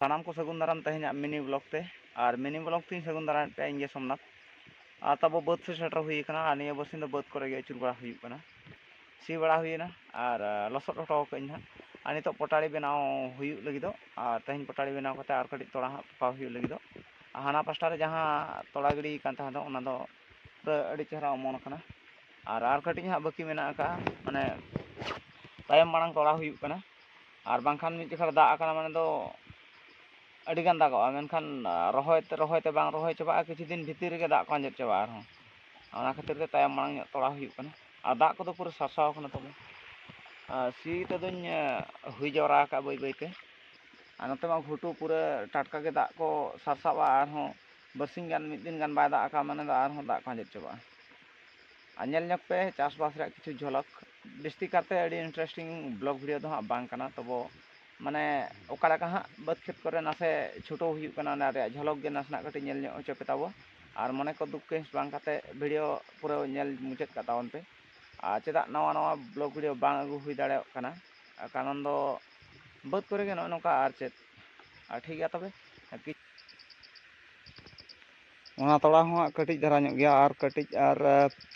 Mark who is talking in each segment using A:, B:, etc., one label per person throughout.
A: ᱥᱟᱱᱟᱢ ᱠᱚ ᱥᱟᱹᱜᱩᱱ ᱫᱟᱨᱟᱢ ᱛᱮᱦᱮᱧᱟᱜ ᱢᱤᱱᱤ ᱵᱞᱚᱜ ᱛᱮ ᱟᱨ ᱢᱤᱱᱤ ᱵᱞᱚᱜ ᱛᱮᱧ ᱥᱟᱹᱜᱩᱱ ᱫᱟᱨᱟᱢᱮᱫ ᱯᱮᱭᱟ ᱤᱧᱜᱮ ᱥᱳᱢᱱᱟᱛᱷ ᱟᱨ ᱛᱟᱵᱚ ᱵᱟᱹᱫᱽ ᱥᱮᱫ ᱥᱮᱴᱮᱨ ᱦᱩᱭ ᱟᱠᱟᱱᱟ ᱟᱨ ᱱᱤᱭᱟᱹ ᱵᱟᱨᱥᱤᱧ ᱫᱚ ᱵᱟᱹᱫᱽ ᱠᱚᱨᱮ ᱜᱮ ᱟᱹᱪᱩᱨ ᱵᱟᱲᱟ ᱦᱩᱭᱩᱜ ᱠᱟᱱᱟ ᱥᱤ ᱵᱟᱲᱟ ᱦᱩᱭᱮᱱᱟ ᱟᱨ ᱞᱚᱥᱚᱫ ᱦᱚᱴᱚ ᱟᱠᱟᱫ ᱟᱹᱧ ᱦᱟᱸᱜ ᱟᱨ ᱱᱤᱛᱚᱜ ᱯᱚᱴᱟᱲᱤ ᱵᱮᱱᱟᱣ ᱦᱩᱭᱩᱜ ᱞᱟᱹᱜᱤᱫᱚᱜ ᱟᱨ ᱛᱮᱦᱮᱧ ᱯᱚᱴᱟᱲᱤ ᱵᱮᱱᱟᱣ ᱠᱟᱛᱮᱫ ᱟᱨ ᱠᱟᱹᱴᱤᱡ ᱛᱚᱲᱟ ᱦᱟᱸᱜ ᱯᱚᱠᱟᱣ ᱦᱩᱭᱩᱜ ᱞᱟᱹᱜᱤᱫᱚᱜ ᱟᱨ ᱦᱟᱱᱟ ᱯᱟᱥᱴᱟ ᱨᱮ ᱡᱟᱦᱟᱸ ᱛᱚᱲᱟ ᱜᱤᱰᱤ ᱟᱠᱟᱱ ᱛᱟᱦᱮᱸ ᱫᱚ ᱚᱱᱟ ᱫᱚ ᱯᱩᱨᱟᱹ ᱟᱹᱰᱤ ᱪᱮᱦᱨᱟ ᱚᱢᱚᱱ ᱟᱠᱟᱱᱟ ᱟᱨ ᱟᱨ ᱠᱟᱹᱴᱤᱡ ᱦᱟᱸᱜ ᱵᱟᱹᱠᱤ ᱢᱮᱱᱟᱜ ᱟᱠᱟᱫᱼᱟ ᱢᱟᱱᱮ ᱛᱟᱭᱚᱢ ᱢᱟᱲᱟᱝ ᱛᱚᱲᱟ ᱦᱩᱭᱩᱜ ᱠᱟᱱᱟ ᱟᱨ ᱵᱟᱝᱠᱷᱟᱱ ᱢᱤᱫ ᱡᱚᱠᱷᱟ ᱨᱮ ᱫᱟᱜ ᱟᱠᱟᱱᱟ ᱢᱟᱱᱮ ᱫᱚ ᱟᱹᱰᱤ ᱜᱟᱱ ᱫᱟᱜᱚᱜᱼᱟ ᱢᱮᱱᱠᱷᱟᱱ ᱨᱚᱦᱚᱭ ᱛᱮ ᱨᱚᱦᱚᱭ ᱛᱮ ᱵᱟᱝ ᱨᱚᱦᱚᱭ ᱪᱟᱵᱟᱜᱼᱟ ᱠᱤᱪᱷᱩ ᱫᱤᱱ ᱵᱷᱤᱛᱤᱨ ᱨᱮᱜᱮ ᱫᱟᱜ ᱠᱚ ᱟᱸᱡᱮᱫ ᱪᱟᱵᱟᱜᱼᱟ ᱟᱨᱦᱚᱸ ᱚᱱᱟ ᱠᱷᱟᱹᱛᱤᱨ ᱛᱮ ᱛᱟᱭᱚᱢ ᱢᱟᱲᱟᱝ ᱧᱚᱜ ᱛᱚᱲᱟᱣ ᱦᱩᱭᱩᱜ ᱠᱟᱱᱟ ᱟᱨ ᱫᱟᱜ ᱠᱚᱫᱚ ᱯᱩᱨᱟᱹ ᱥᱟᱨᱥᱟᱣ ᱠᱟᱱᱟ ᱛᱟᱞᱮ ᱟᱨ ᱥᱤ ᱛᱮᱫᱚᱧ ᱦᱩᱭ ᱡᱟᱣᱨᱟ ᱟᱠᱟᱫᱼᱟ ᱵᱟᱹᱭ ᱵᱟᱹᱭ ᱛᱮ ᱟᱨ ᱱᱚᱛᱮ ᱢᱟ ᱜᱷᱩᱴᱩ ᱯᱩᱨᱟᱹ ᱴᱟᱴᱠᱟ ᱜᱮ ᱫᱟᱜ ᱠᱚ ᱥᱟᱨᱥᱟᱜᱼᱟ ᱟᱨᱦᱚᱸ ᱵᱟᱨᱥᱤᱧ ᱜᱟᱱ ᱢᱤᱫ ᱫᱤᱱ ᱜᱟᱱ ᱵᱟᱭ ᱫᱟᱜ ᱟᱠᱟᱫᱼᱟ ᱢᱟᱱᱮ ᱫᱚ ᱟᱨᱦᱚᱸ ᱫᱟᱜ ᱠᱚ ᱟᱸᱡᱮᱫ ᱪᱟᱵᱟᱜᱼᱟ ᱟᱨ ᱧᱮᱞ ᱧᱚᱜ ᱯᱮ ᱪᱟᱥᱵᱟᱥ ᱨᱮᱭᱟᱜ ᱠᱤᱪᱷᱩ ᱡᱷᱚᱞᱚᱠ ᱡᱟᱹᱥᱛᱤ ᱠᱟᱨᱛᱮ ᱟᱹᱰᱤ ᱤᱱᱴᱟᱨᱮᱥᱴᱤᱝ ᱵᱞᱚᱜ ᱵᱷᱤᱰᱤᱭᱳ ᱫᱚ ᱦᱟᱸᱜ ᱵᱟᱝ ᱠᱟᱱᱟ ᱛᱚᱵᱚ ᱢᱟᱱᱮ ᱚᱠᱟ ᱞᱮᱠᱟ ᱦᱟᱸᱜ ᱵᱟᱹᱫᱽ ᱠᱷᱮᱛ ᱠᱚᱨᱮ ᱱᱟᱥᱮ ᱪᱷᱩᱴᱟᱹᱣ ᱦᱩᱭᱩᱜ ᱠᱟᱱᱟ ᱚᱱᱟ ᱨᱮᱭᱟᱜ ᱡᱷᱚᱞᱚᱠ ᱜᱮ ᱱᱟᱥᱮᱱᱟᱜ ᱠᱟᱹᱴᱤᱡ ᱧᱮᱞ ᱧᱚᱜ ᱦᱚᱪᱚ ᱯᱮ ᱛᱟᱵᱚ ᱟᱨ ᱢᱚᱱᱮ ᱠᱚ ᱫᱩᱠ ᱠᱟᱹᱦᱤᱥ ᱵᱟᱝ ᱠᱟᱛᱮ ᱵᱷᱤᱰᱤᱭᱳ ᱯᱩᱨᱟᱹ ᱧᱮᱞ ᱢᱩᱪᱟᱹᱫ ᱠᱟᱜ ᱛᱟᱵᱚᱱ ᱯᱮ ᱟᱨ ᱪᱮᱫᱟᱜ ᱱᱟᱣᱟ ᱱᱟᱣᱟ ᱵᱞᱚᱜ ᱵᱷᱤᱰᱤᱭᱳ ᱵᱟᱝ ᱟᱹᱜᱩ ᱦᱩᱭ ᱫᱟᱲᱮᱭᱟᱜ ᱠᱟᱱᱟ ᱠᱟᱨᱚᱱ ᱫᱚ ᱵᱟᱹᱫᱽ ᱠᱚᱨᱮ ᱜᱮ ᱱᱚᱜᱼᱚ ᱱᱚᱝᱠᱟ ᱟᱨ ᱪᱮᱫ ᱴᱷᱤᱠ ᱜᱮᱭᱟ ᱛᱚᱵᱮ ᱚᱱᱟ ᱛᱚᱲᱟ ᱦᱚᱸ ᱦᱟᱸᱜ ᱠᱟᱹᱴᱤᱡ ᱫᱷᱟᱨᱟ ᱧᱚᱜ ᱜᱮᱭᱟ ᱟᱨ ᱠᱟᱹᱴᱤᱡ ᱟᱨ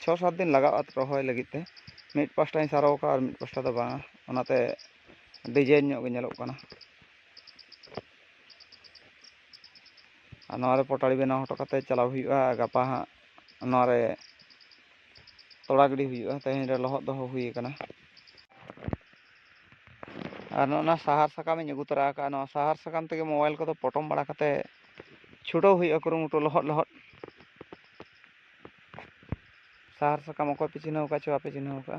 A: ᱪᱷᱚ ᱥᱟᱛ ᱫᱤᱱ ᱞᱟᱜᱟᱜᱼᱟ ᱨᱚᱦᱚᱭ ᱞᱟᱹᱜᱤᱫ ᱛᱮ ᱢᱤᱫ ᱯᱟᱥᱴᱟᱧ ᱥᱟᱨᱚ ᱟᱠᱟᱫᱼᱟ ᱟᱨ ᱢᱤᱫ ᱯᱟᱥᱴᱟ ᱫᱚ ᱵᱟᱝᱟ ᱚᱱᱟᱛᱮ ᱰᱤᱡᱟᱭᱤᱱ ᱧᱚᱜ ᱜᱮ ᱧᱮᱞᱚᱜ ᱠᱟᱱᱟ ᱟᱨ ᱱᱚᱣᱟᱨᱮ ᱯᱚᱴᱟᱲᱤ ᱵᱮᱱᱟᱣ ᱦᱚᱴᱚ ᱠᱟᱛᱮᱫ ᱪᱟᱞᱟᱣ ᱦᱩᱭᱩᱜᱼᱟ ᱜᱟᱯᱟ ᱦᱟᱸᱜ ᱱᱚᱣᱟᱨᱮ ᱛᱚᱲᱟ ᱜᱤᱰᱤ ᱦᱩᱭᱩᱜᱼᱟ ᱛᱮᱦᱮᱧ ᱨᱮ ᱞᱚᱦᱚᱫ ᱫᱚᱦᱚ ᱦᱩᱭ ᱟᱠᱟᱱᱟ ᱟᱨ ᱱᱚᱜᱼᱚ ᱱᱚᱣᱟ ᱥᱟᱦᱟᱨ ᱥᱟᱠᱟᱢᱤᱧ ᱟᱹᱜᱩ ᱛᱚᱨᱟ ᱟᱠᱟᱫᱼᱟ ᱱᱚᱣᱟ ᱥᱟᱦᱟᱨ ᱥᱟᱠᱟᱢ ᱛᱮᱜᱮ ᱢᱳᱵᱟᱭᱤᱞ ᱠᱚᱫᱚ ᱯᱚᱴᱚᱢ ᱵᱟᱲᱟ ᱠᱟᱛᱮᱫ ᱪᱷᱩᱴᱟᱹᱣ ᱦᱩᱭᱩᱜᱼᱟ ᱠᱩᱨᱩᱢᱩᱴᱩ ᱞᱚᱦᱚᱫ ᱞᱚᱦᱚᱫ ᱥᱟᱦᱟᱨ ᱥᱟᱠᱟᱢ ᱚᱠᱚᱭ ᱯᱮ ᱪᱤᱱᱦᱟᱹᱣ ᱟᱠᱟᱫ ᱪᱚ ᱵᱟᱯᱮ ᱪᱤᱱᱦᱟᱹᱣ ᱟᱠᱟᱫᱼᱟ